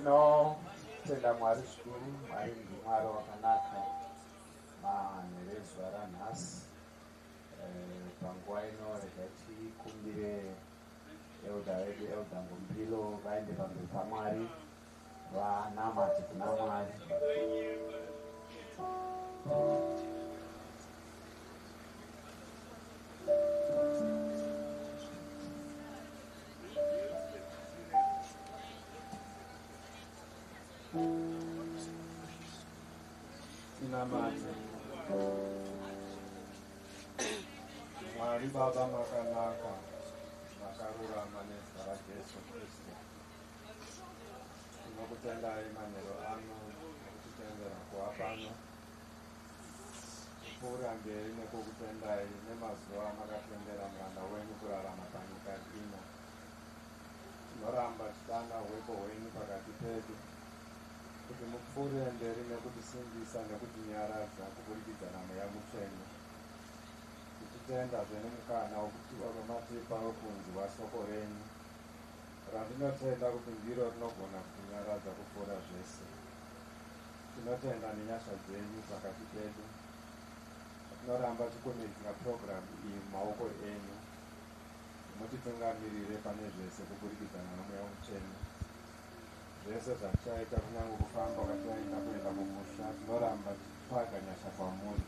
tinotenda mwari zvikuru mwari ndimwari wakanaka manherezuva ranhasi eh, panguva ino rega tikumbire elda vedu elda ngombilo vaende pamberi pamwari Vanamati kuna Mwari. Tinamati. Mwari Baba makanaka, makarurama nezita raJesu Kristu. Tinokutendai manheru ano nekutitendera kuva pano. Kuurambei nekukutendai nemazuva amakatendera muranda wenyu kurarama panyika ino. Tinoramba tichitanga hwepo hwenyu pakati pedu kuti mupfuurire mberi nekutisimbisa nekutinyaradza kuburikidza naMweya Mutsvene. Tichitendazve nemukana wamatipa wekunzwa soko renyu. Randinotenda kuti ndiro rinogona kutinyaradza kupfuura zvese. Tinotenda nenyasha dzenyu pakati pedu. Tinoramba tichikumidzira purogiramu iyi mumaoko enyu. Mutitungamirire pane zvese kuburikidza naMweya Mutsvene. Zvese zvatichaita, kunyange kufamba kwatichaita kuenda kumusha, tinoramba tichitsvaga nyasha kwamuri.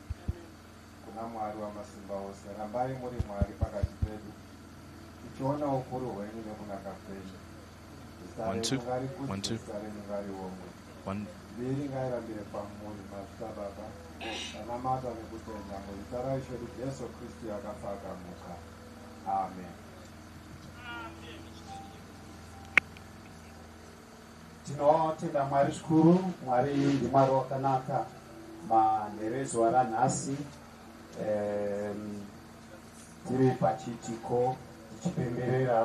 Kuna Mwari Wamasimbaose, rambai muri Mwari pakati pedu, tichiona ukuru hwenyu nekunaka kwenyu. Zita renyu ngarikudzwe, zita renyu ngariongwe, mbiri ngairambire kwamuri, mazita Baba, tanamata nekutenda muzita raIshe wedu Jesu Kristu akafa akamuka. Amen. Tinotenda Mwari zvikuru, Mwari ndiMwari wakanaka manheru ezuva ranhasi um, tiri pachiitiko tichipemberera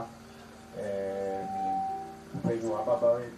upenyu um, hwababa vedu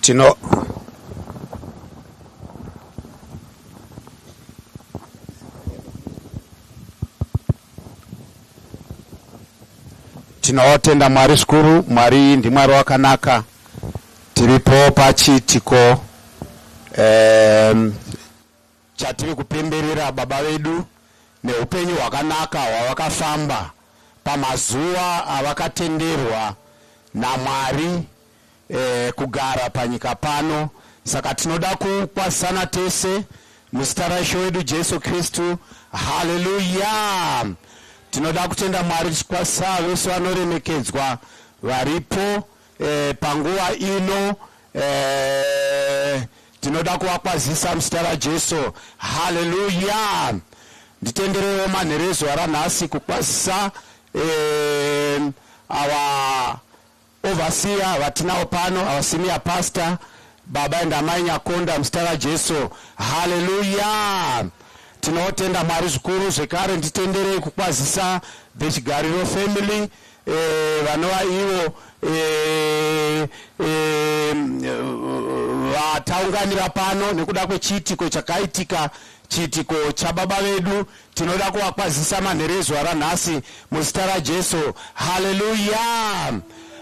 tino tinotenda mwari zvikuru mwari ndimwari wakanaka tiripo pachiitiko um, Chatiri kupemberera Baba vedu neupenyu hwakanaka hwavakafamba pamazuva avakatenderwa naMwari eh, kugara panyika pano. Saka tinoda kukwazisana tese muzita raIshe wedu Jesu Kristu. Haleluya! Tinoda kutenda Mwari tichikwazisa vese vanoremekedzwa varipo. Eh, panguva ino eh, tinoda kuvakwazisa muzita rajesu haleluya nditenderewo manheru ezuva ranhasi kukwazisa eh, awa ovasiya vatinawo pano awa senior pastor baba and amai nyakonda muzita rajesu haleluya tinotenda mwari zvikuru zvekare nditenderei kukwazisa vechigariro family Eeh vanova ivo eeh eeh vataunganira pano nekuda kwechiitiko chakaitika chiitiko chababa vedu tinoda kuvakwazisa manheru ezuva ranhasi muzita raJesu haleluya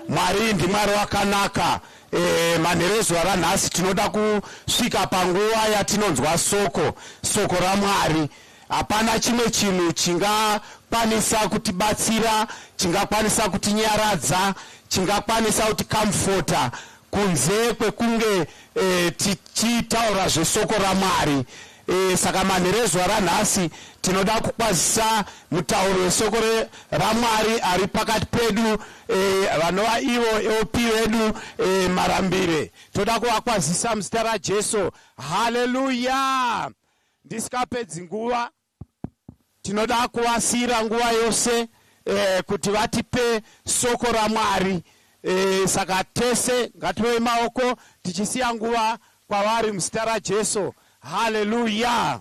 Mwari ndiMwari wakanaka eeh manheru ezuva ranhasi tinoda kusvika panguva yatinonzwa soko soko raMwari Hapana chimwe chinhu chingakwanisa kutibatsira, chingakwanisa kutinyaradza, chingakwanisa kutikamufota kunze kwekunge e, tichitaura zvesoko raMwari. E, saka manheru ezuva ranhasi tinoda kukwazisa mutauro wesoko raMwari ari pakati pedu e, vanova ivo OP vedu e, Marambire. Toda kuvakwazisa muzita raJesu. Haleluya! Ndisikapedzi nguva tinoda kuvasiira nguva yose eh, kuti vatipe soko raMwari eh, saka tese ngatirove maoko tichisiya nguva kwavari muzita raJesu. Haleluya!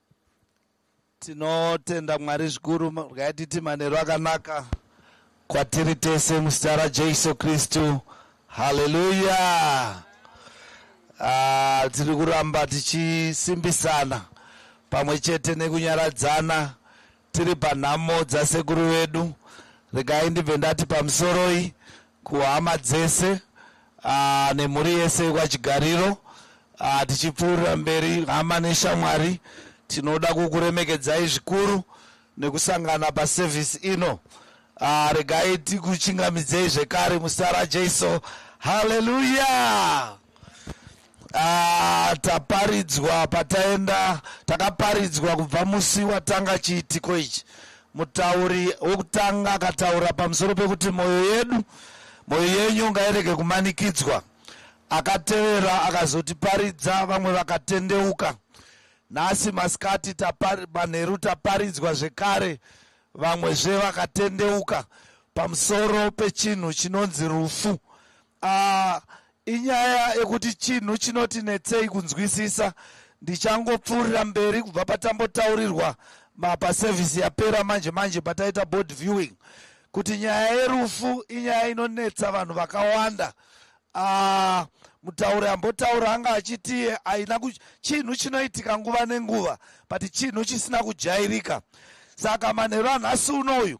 Tinotenda Mwari zvikuru ngaititi manheru akanaka kwatiri tese muzita raJesu Kristu. Haleluya! Ah, tiri kuramba tichisimbisana pamwe chete nekunyaradzana Tiri panhamo dzasekuru vedu, regai ndibve ndati pamusoroi kuhama dzese aa, nemhuri yese yekwaChigariro aa, tichipfuurira mberi hama neshamwari tinoda kukuremekedzai zvikuru nekusangana paservice ino aa, regai tikuchingamidzei zvekare muzita raJesu. Hallelujah! Ah, taparidzwa pataenda takaparidzwa kubva musi watanga chiitiko ichi mutauri wekutanga akataura pamusoro pekuti mwoyo yedu mwoyo yenyu ngairege kumanikidzwa akatevera akazotiparidza vamwe vakatendeuka nhasi masikati tapari- manheru taparidzwa zvekare vamwezve vakatendeuka pamusoro pechinhu chinonzi rufu Aah inyaya yekuti chinhu chinoti netsei kunzwisisa ndichangopfuurira mberi kubva patambotaurirwa mapa service yapera manje manje pataita board viewing kuti nyaya yerufu inyaya inonetsa vanhu vakawanda ah, mutauri ambotaura anga achiti aina chinhu chinoitika nguva nenguva but chinhu chisina kujairika saka manheru anhasi uno uyu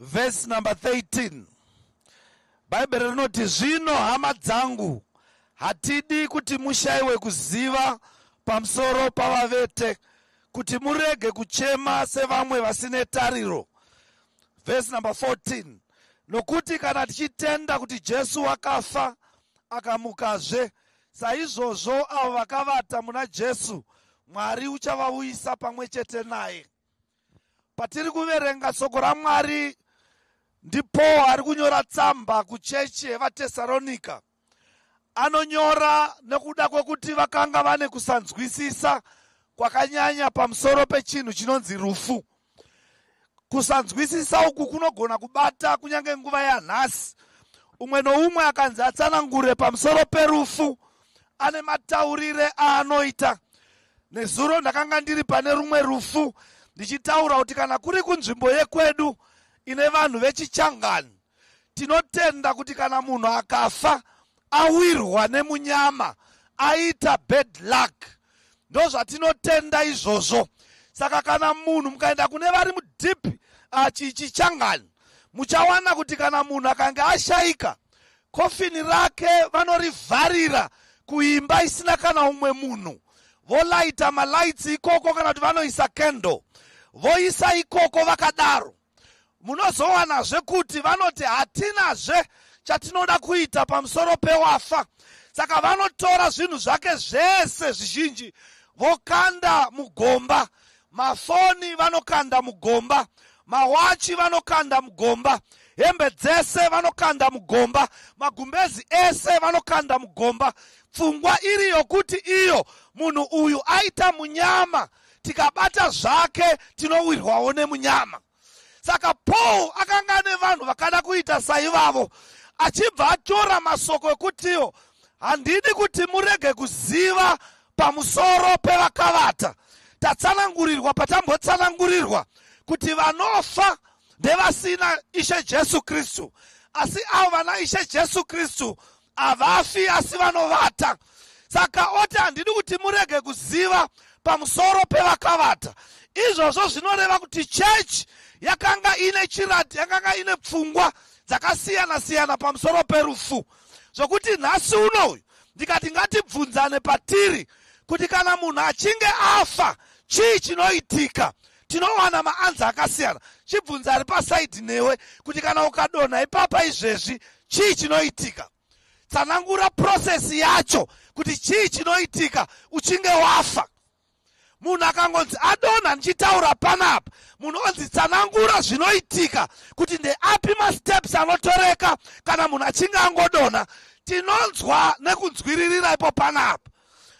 vhesi number 13 bhaibheri rinoti zvino hama dzangu hatidi kuti mushaiwe kuziva pamusoro pavavete kuti murege kuchema sevamwe vasine tariro vhesi number 14 nokuti kana tichitenda kuti jesu wakafa akamukazve Saizvozvo avo vakavata muna Jesu, Mwari uchavauyisa pamwe chete naye. Patiri kuverenga soko raMwari, ndiPaul ari kunyora tsamba kuchechi yevaTesaronika. Anonyora nekuda kwekuti vakanga vane kusanzwisisa kwakanyanya pamusoro pechinhu chinonzi rufu. Kusanzwisisa uku kunogona kubata kunyange nguva yanhasi. Umwe noumwe akanzi atsanangure pamusoro perufu ane mataurire aanoita. Nezuro ndakanga ndiri pane rumwe rufu ndichitaura kuti kana kuri kunzvimbo yekwedu ine vanhu vechichangani tinotenda kuti kana munhu akafa awirwa nemunyama aita bad luck ndozvatinotenda izvozvo saka kana munhu mukaenda kune vari mudeep achichichangani muchawana kuti kana munhu akange ashaika kofini rake vanorivharira kuimba isina kana umwe munhu volaita malaitsi ikoko kana kuti vanoisa kendo voisa ikoko vakadaro munozowanazve kuti vanoti hatinazve chatinoda kuita pamusoro pewafa saka vanotora zvinhu zvake zvese zvizhinji vokanda mugomba mafoni vanokanda mugomba mawachi vanokanda mugomba hembe dzese vanokanda mugomba magumbezi ese vanokanda mugomba pfungwa iri yokuti iyo munhu uyu aita munyama tikabata zvake tinowirwawo nemunyama saka paul akanga ane vanhu vakada kuita saivavo achibva atora masoko ekutiwo handidi kuti murege kuziva pamusoro pevakavata tatsanangurirwa patambotsanangurirwa kuti vanofa ndevasina ishe jesu kristu asi avo vana ishe jesu kristu havafi asi vanovata saka oti handidi kuti murege kuziva pamusoro pevakavata izvozvo zvinoreva kuti chechi yakanga ine chirati yakanga ine pfungwa dzakasiyana siyana pamusoro perufu zvokuti nhasi unoyu ndikati ngatibvunzane patiri kuti kana munhu achinge afa chii chinoitika tinowana maanza akasiyana chibvunza ari pasaidhi newe kuti kana ukadonha ipapa izvezvi chii chinoitika tsanangura process yacho kuti chii chinoitika uchinge wafa munhu akangonzi adonha ndichitaura panapa munhu onzi tsanangura zvinoitika kuti ndeapi masteps anotoreka kana munhu achinge angodonha tinonzwa nekunzwiririra ipo panapa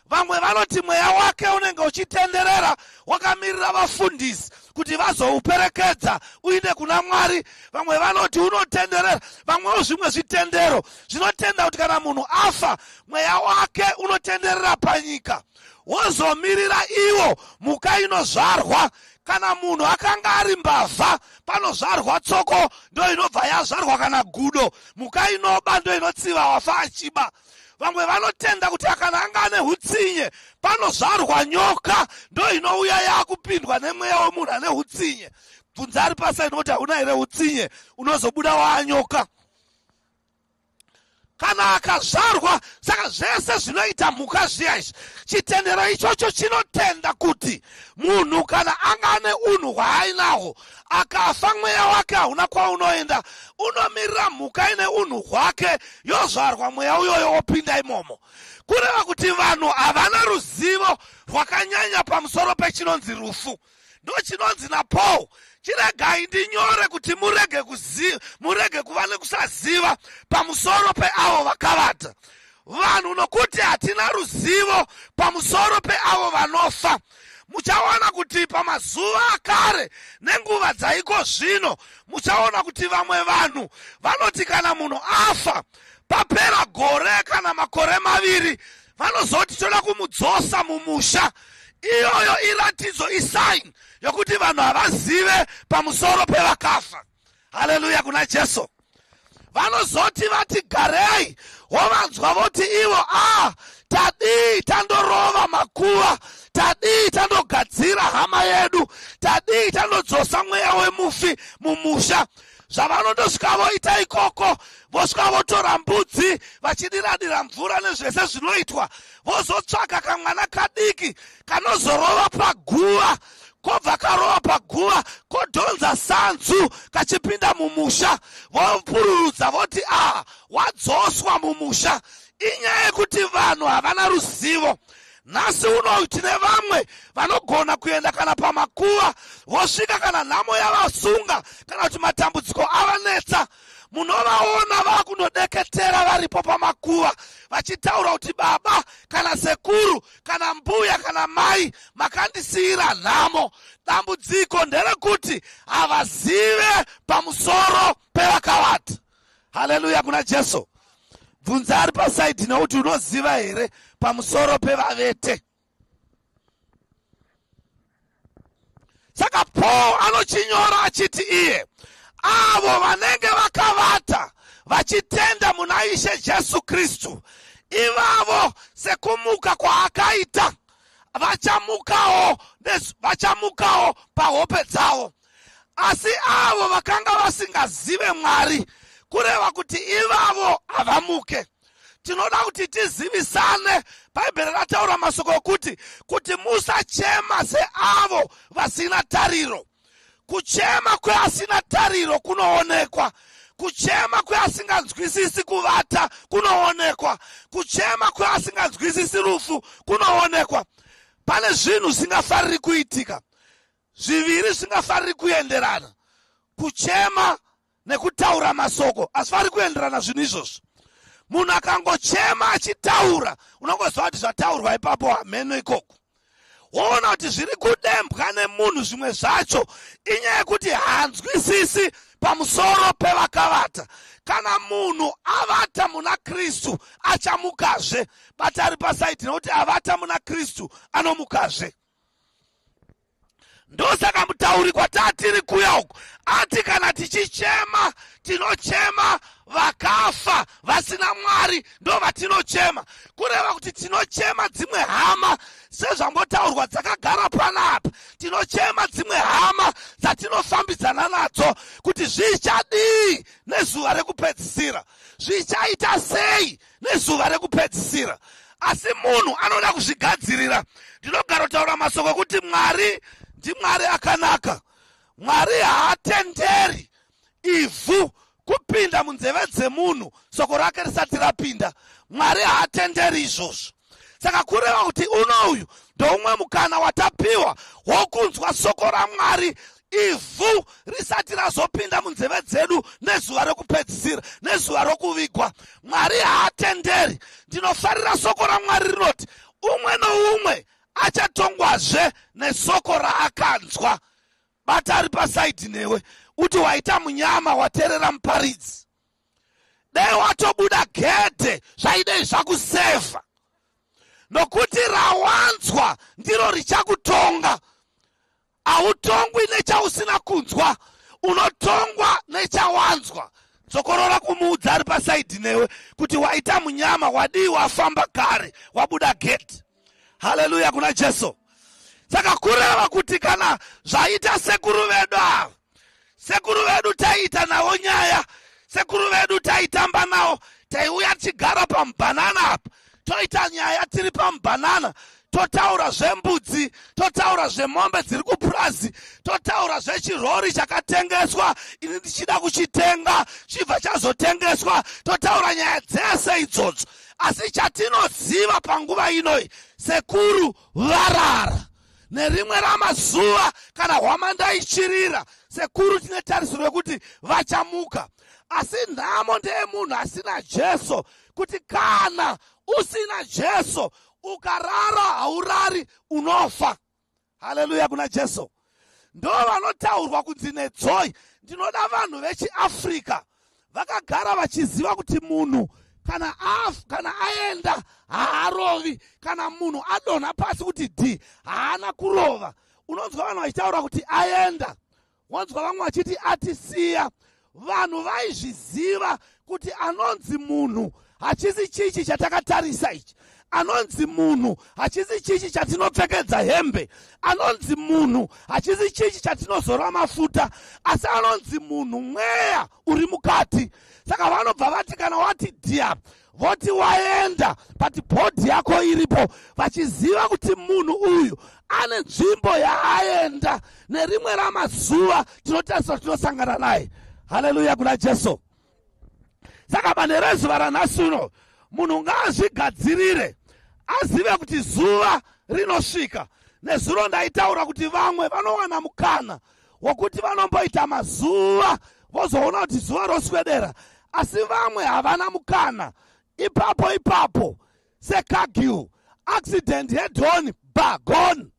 vamwe vanoti mweya wake unenge uchitenderera wakamirira vafundisi kuti vazouperekedza uine kuna mwari vamwe vanoti unotenderera vamwewo zvimwe zvitendero zvinotenda kuti kana munhu afa mweya wake unotenderera panyika wozomirira iwo mhuka inozvarwa kana munhu akanga ari mbavha panozvarwa tsoko ndo inobva yazvarwa kana gudo mhuka inoba ndo inotsiva wafa achiba vamwe vanotenda kuti kana anga ane utsinye panozvarwa nyoka ndo inouya yakupindwa nemweya wemunhu ane utsinye bvunza ari pasaini kuti hauna here utsinye unozobuda waanyoka kana akazvarwa saka zvese zvinoita mhuka zviya izvi chitendero ichocho chinotenda kuti munhu kana anga ane unhu hwaainahwo akafa mweya wake hauna kwaunoenda unomirira mhuka ine unhu hwake yozvarwa mweya uyoyo wopinda imomo kureva kuti vanhu havana ruzivo rwakanyanya pamusoro pechinonzi rufu ndochinonzi napaul chiregai ndinyore kuti murege kuziva murege kuva nekusaziva pamusoro peavo vakavata vanhu nokuti hatina ruzivo pamusoro peavo vanofa muchaona kuti pamazuva akare nenguva dzaiko zvino muchaona kuti vamwe vanhu vanoti kana munhu afa papera gore kana makore maviri vanozoti toda kumudzosa mumusha iyoyo iratidzo isaini yokuti vanhu havazive pamusoro pevakafa haleluya kuna jesu vanozoti vati garei wovanzwa voti ivo a ah, tadii tandorova makuva tadii tandogadzira hama yedu tadii tandodzosa mweya wemufi mumusha zvavanondosvika voita ikoko vosvika votora mbudzi vachidiradira mvura nezvese zvinoitwa vozotsvaka kamwana kadiki kanozorova paguva kobva karova paguva kodhonza sanzu kachipinda mumusha vomupururudza voti aha wadzoswa mumusha inyaya yekuti vanhu havana ruzivo nhasi uno tine vamwe vanogona kuenda kana pamakuva vosvika kana nhamo yavasunga kana kuti matambudziko avanetsa munovaona vakunodeketera varipo pamakuva vachitaura kuti baba kana sekuru kana mbuya kana mai makandisiira nhamo dambudziko nderekuti havazive pamusoro pevakawata haleluya kuna jesu bvunza ari pasaidhi nekuti unoziva here pamusoro pevavete saka paul anochinyora achiti iye avo vanenge vakavata vachitenda muna ishe jesu kristu ivavo sekumuka kwaakaita vachamukawo vachamukawo pahope dzavo asi avo vakanga vasingazive mwari kureva kuti ivavo havamuke tinoda kuti tizivisane bhaibheri rataura masoko okuti kuti musachema seavo vasina tariro kuchema kweasina tariro kunoonekwa kuchema kweasinganzwisisi kuvata kunoonekwa kuchema kweasinganzwisisi rufu kunoonekwa pane zvinhu zvingafariri kuitika zviviri zvingafariri kuenderana kuchema nekutaura masoko asifari kuenderana zvinhu izvozvo munhu akangochema achitaura unongoziva kuti zvataurwa ipapo hameno ikoko woona kuti zviri kudembwa nemunhu zvimwe zvacho inyaya yekuti hanzwisisi pamusoro pevakavata kana munhu avata muna kristu achamukazve bati ari pasaiti nekuti avata muna kristu anomukazve ndosaka mutauri kwatatiri kuya uku ati kana tichichema tinochema vakafa vasina mwari ndo vatinochema kureva kuti tinochema dzimwe hama sezvambotaurwa dzakagara panapa tinochema dzimwe hama dzatinofambidzana nadzo kuti zvichadii nezuva rekupedzisira zvichaita sei nezuva rekupedzisira asi munhu anoda kuzvigadzirira ndinogara kutaura masoko ekuti mwari ndimwari akanaka mwari haatenderi ivhu kupinda munzeve dzemunhu soko rake risati rapinda mwari haatenderi izvozvo saka kureva kuti uno uyu ndoumwe mukana watapiwa wokunzwa soko ramwari ivhu risati razopinda munzeve dzedu nezuva rekupedzisira nezuva rokuvigwa mwari haatenderi ndinofarira soko ramwari rinoti umwe noumwe achatongwazve nesoko raakanzwa bata ari pasaidhi newe uti waita munyama waterera muparidzi dai watobuda gedhe zvaidei zvakusevha nokuti rawanzwa ndiro richakutonga hautongwi nechausina kunzwa unotongwa nechawanzwa dzokorora kumuudza ari pasaidhi newe kuti waita munyama wadii wafamba kare wabuda gedhe haleluya kuna jesu saka kureva kuti kana zvaita sekuru vedu ava sekuru vedu taiita navo nyaya sekuru vedu taitamba navo taiuya tichigara pamubhanana apa toita nyaya tiri pamubhanana totaura zvembudzi totaura zvemombe dziri kupurazi totaura zvechirori chakatengeswa ini ndichida kuchitenga chibva chazotengeswa totaura nyaya dzese idzodzo asi chatinoziva panguva inoi sekuru varara nerimwe ramazuva kana hwamanda ichirira sekuru tine tarisiro yekuti vachamuka asi nhamo ndeyemunhu asina jesu kuti kana usina jesu ukarara haurari unofa haleluya kuna jesu ndo vanotaurwa kunzi nedzoi ndinoda vanhu vechiafrica vakagara vachiziva kuti munhu kana af kana aenda haarovi kana munhu adonha pasi kuti d haana kurova unonzwa vanhu vachitaura kuti aenda wonzwa vamwe vachiti atisiya vanhu vaizviziva kuti anonzi munhu hachisi chichi chatakatarisa ichi anonzi munhu hachisi chichi chatinopfekedza hembe anonzi munhu hachisi chichi chatinozora mafuta asi anonzi munhu mweya uri mukati saka vanobva vati kana wati dia voti waenda but bhodhi yako iripo vachiziva kuti munhu uyu ane nzvimbo yaaenda nerimwe ramazuva tinotarisira tinosangana naye haleluya kuna jesu saka pane rezuva ranhasi uno munhu ngaazvigadzirire azive kuti zuva rinosvika nezuro ndaitaura kuti vamwe vanowana mukana wokuti vanomboita mazuva vozoona kuti zuva roswedera asi vamwe havana mukana ipapo ipapo sekagiu accident hedhoni bagoni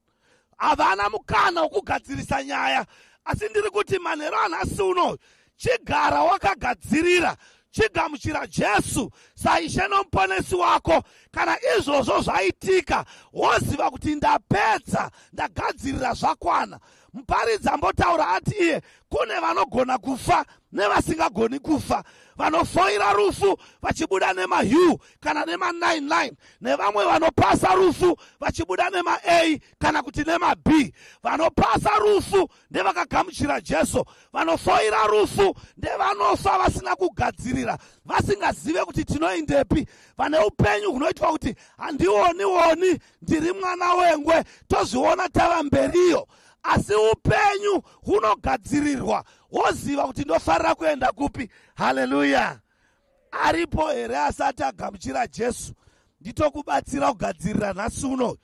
havana mukana wokugadzirisa nyaya asi ndiri kuti manheru anhasi uno chigara wakagadzirira chigamuchira jesu saishe nomuponesi wako kana izvozvo zvaitika woziva kuti ndapedza ndagadzirira zvakwana muparidzi ambotaura ati iye kune vanogona kufa nevasingagoni kufa vanofoira rufu vachibuda nemahyu kana nema99 nevamwe vanopasa rufu vachibuda nema-a kana kuti nema-b vanopasa rufu ndevakagamuchira jesu vanofoira rufu ndevanofa vasina kugadzirira vasingazive kuti tinoindepi vane upenyu hunoitwa kuti handioni woni ndiri mwana wengwe tozviona tava mberiyo asi upenyu hunogadzirirwa woziva kuti ndofarira kuenda kupi haleluya aripo here asati agamuchira jesu nditokubatsira kugadzirira nhasi uno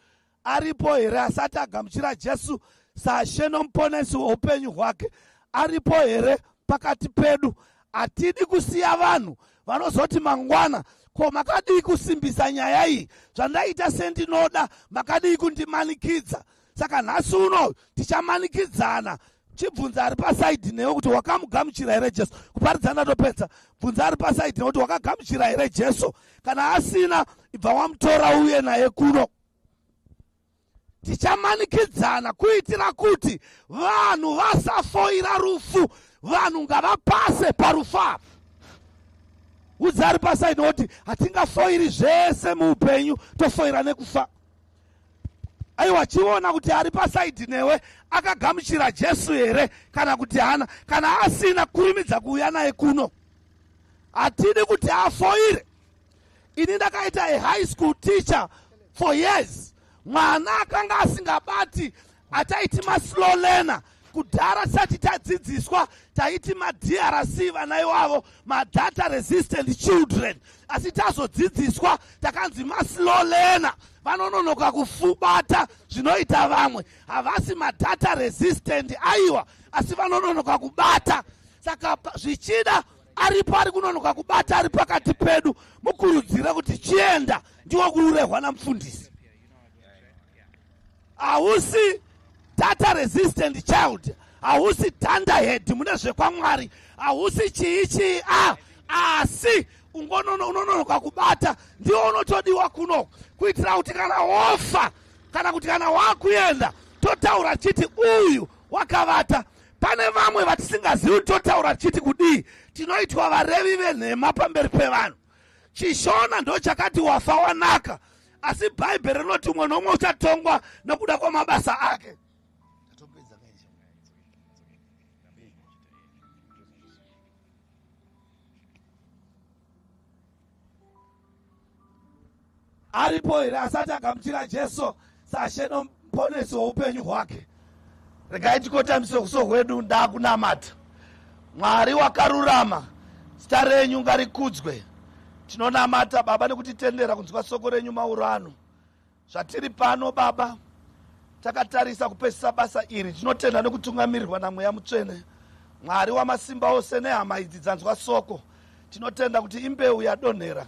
aripo here asati agamuchira jesu sashe nomuponesi weupenyu hwake aripo here pakati pedu hatidi kusiya vanhu vanozoti mangwana ko makadii kusimbisa nyaya iyi zvandaita sendinoda makadii kundimanikidza saka nhasi uno tichamanikidzana chibvunza ari pasaidi newe kuti wakamugamuchira here jesu kuparidza ndatopedza bvunza ari pasaidi newe kuti wakagamuchira here jesu kana asina ibva wamutora uye naye kuno tichamanikidzana kuitira kuti vanhu vasafoira rufu vanhu ngavapase parufu apa udzi ari pasaidi nekuti hatingafoiri zvese muupenyu tofoira nekufa aiwa chiona kuti ari pasaidhi newe akagamuchira jesu here kana kuti hana kana asina kurimidza kuuya naye kuno hatidi kuti afoire ini ndakaita a high school teacher for years mwana akanga asingabati ataiti maslow learner kudhara tisati tadzidziswa taiti madrc vana iwavo madata resistant children asi tazodzidziswa takanzi maslow learner vanononoka kufubata zvinoita vamwe havasi madata resistant aiwa asi vanononoka kubata saka zvichida aripo ari kunonoka kubata ari pakati pedu mukurudzira kuti chienda ndiwo kuurehwa namufundisi hausi data resistant child hausi thunderhead mune zvekwamwari hausi chii chii a ah, asi unononoka kubata ndiwo unotodiwa kuno kuitira kuti kana wofa kana kuti kana wakuenda totaura chiti uyu wakavata pane vamwe vatisingazivi totaura chiti kudii tinoitwa varevi venhema pamberi pevanhu chishona ndo chakati wafa wanaka asi bhaibheri rinoti umwe nomwe uchatongwa nokuda kwamabasa ake Aripo here asati agamuchira Jesu saShe noMuponesi woupenyu hwake? Regai tikotamiswe kuso hwedu ndakunamata. Mwari wakarurama, zita renyu ngarikudzwe. Tinonamata Baba nekutitendera kunzwa soko renyu mauro ano. Zvatiri pano Baba, takatarisa kupesisa basa iri tinotenda nekutungamirirwa namweya mutsvene mwari wamasimba ose nehama idzi dzanzwa soko tinotenda kuti imbeu yadonhera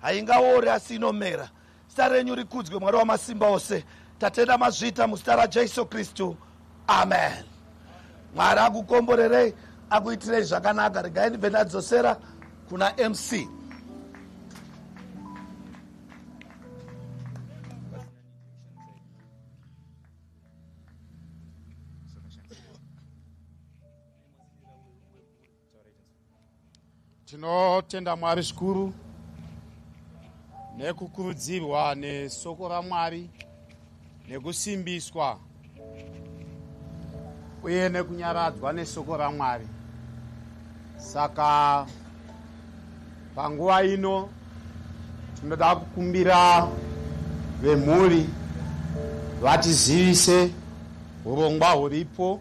haingaori asi inomera zita renyu rikudzwe mwari wamasimba ose tatenda mazvita muzita rajesu kristu amen mwari akukomborerei akuitirei zvakanaka regai ndibve ndadzosera kuna mc Tinotenda Mwari zvikuru nekukurudzirwa nesoko raMwari nekusimbiswa uye nekunyaradzwa nesoko raMwari. Saka panguva ino tinoda kukumbira vemhuri vatizivise urongwa huripo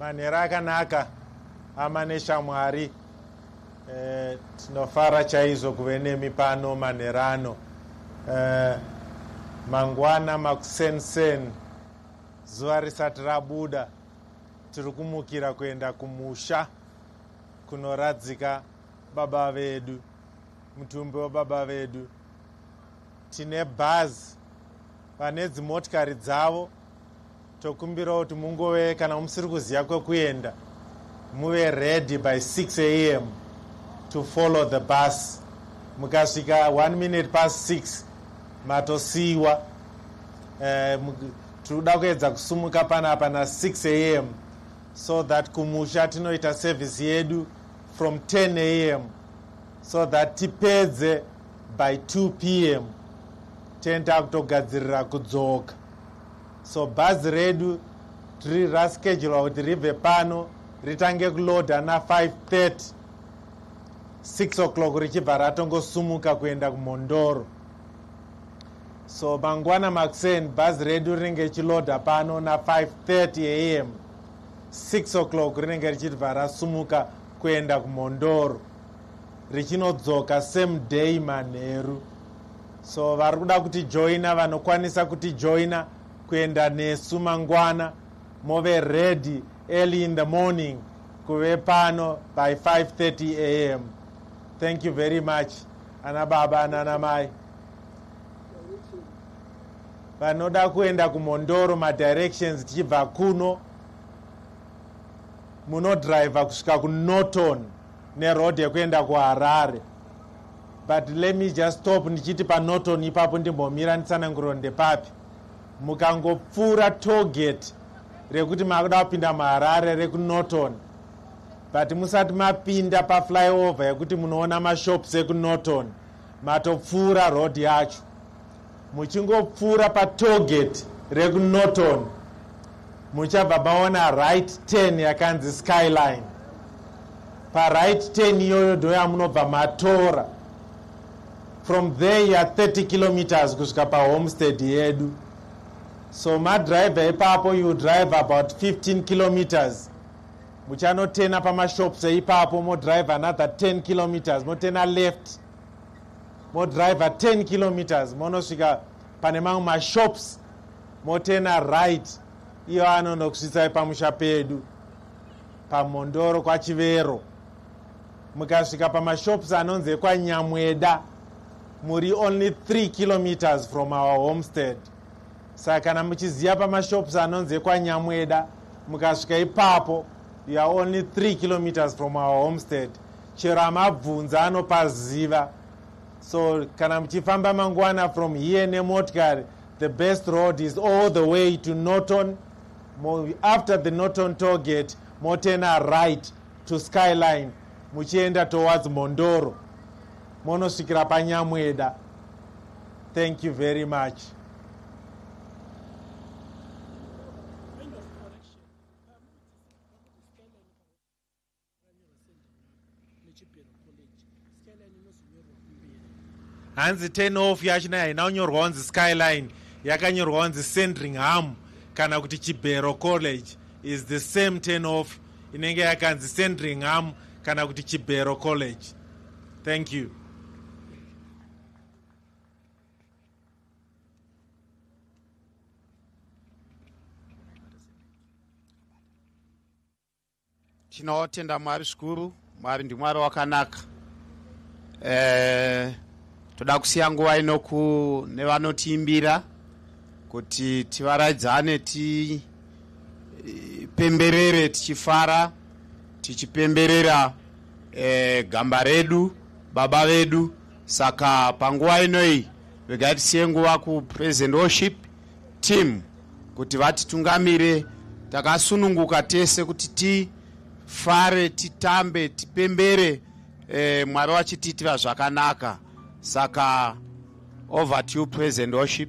manhera akanaka ama neshamwari eh, tinofara chaizvo kuve nemi pano manhera ano eh, mangwana makusensen zuva risati rabuda tiri kumukira kuenda kumusha kunoradzika baba vedu mutumbi wababa vedu Tine bhazi vane dzimotikari dzavo tokumbirawo kuti mungove kana musiri kuziva kwekuenda muve ready by 6 am to follow the bus mukasvika 1 minute past 6 matosiiwa eh, tinoda kuedza kusumuka panapa na 6 am so that kumusha tinoita service yedu from 10 am so that tipedze by 2 pm ten takutogadzirira kudzoka so bhazi redu tiri raschedulwa kuti ribve pano ritange kuloda na530 6 o'clock richibva ratongosumuka kuenda kumhondoro so mangwana makuseni bhazi redu rinenge richiloda pano na530 am 6 o'clock rinenge richibva rasumuka kuenda kumhondoro richinodzoka same day manheru so vari kuda kuti joina vanokwanisa kuti joina kuenda nesu mangwana move ready early in the morning kuve pano by 530 am thank you very much ana baba nana mai vanoda kuenda kumhondoro madirections tichibva kuno munodriver kusvika kunorton neroad yekuenda kuharare but let me just stop ndichiti panoton ipapo ndimbomira nditsananguriro ndepapi mukangopfuura togate rekuti makuda kupinda muharare rekunorton but musati mapinda paflyover yekuti munoona mashops ekunorton Matopfuura road yacho muchingopfuura patoget rekunorton muchabva maona right ten yakanzi skyline paright ten iyoyo ndo yamunobva matora from there ya 30 kilometers kusvika pahomestead yedu so madriver ipapo you drive about 15 kilometers muchanotena pamashops eipapo modrive another 10 kilometers motena left modrive 10 kilometers monosvika pane mamwe mashops motena right iyo anonokusvitsai pamusha pedu pamhondoro kwachivero mukasvika pamashops anonzi ekwanyamweda muri only 3 kilometers from our homestead saka kana muchiziva pamashops anonzi ekwanyamweda mukasvika ipapo you are only 3 kilometers from our homestead chero amabvunza anopaziva so kana muchifamba mangwana from here nemotikari the best road is all the way to norton after the norton togate motena right to skyline muchienda towards mondoro monosvikira panyamweda thank you very much hanzi ten off yachina haina kunyorwa wanzi skyline yakanyorwa wanzi sandringham kana kuti chibhero college is the same ten off inenge yakanzi sandringham kana kuti chibhero college thank you tinotenda mwari zvikuru mwari ndimwari wakanaka eh, toda kusiya nguva inoku nevanotiimbira kuti tivaraidzane tipemberere eh, tichifara tichipemberera eh, gamba redu Baba vedu saka panguva ino iyi regai tisiye nguva kupresent worship team kuti vatitungamire takasununguka tese kuti tifare titambe tipembere eh, mwari vachitiitira zvakanaka saka over to you present worship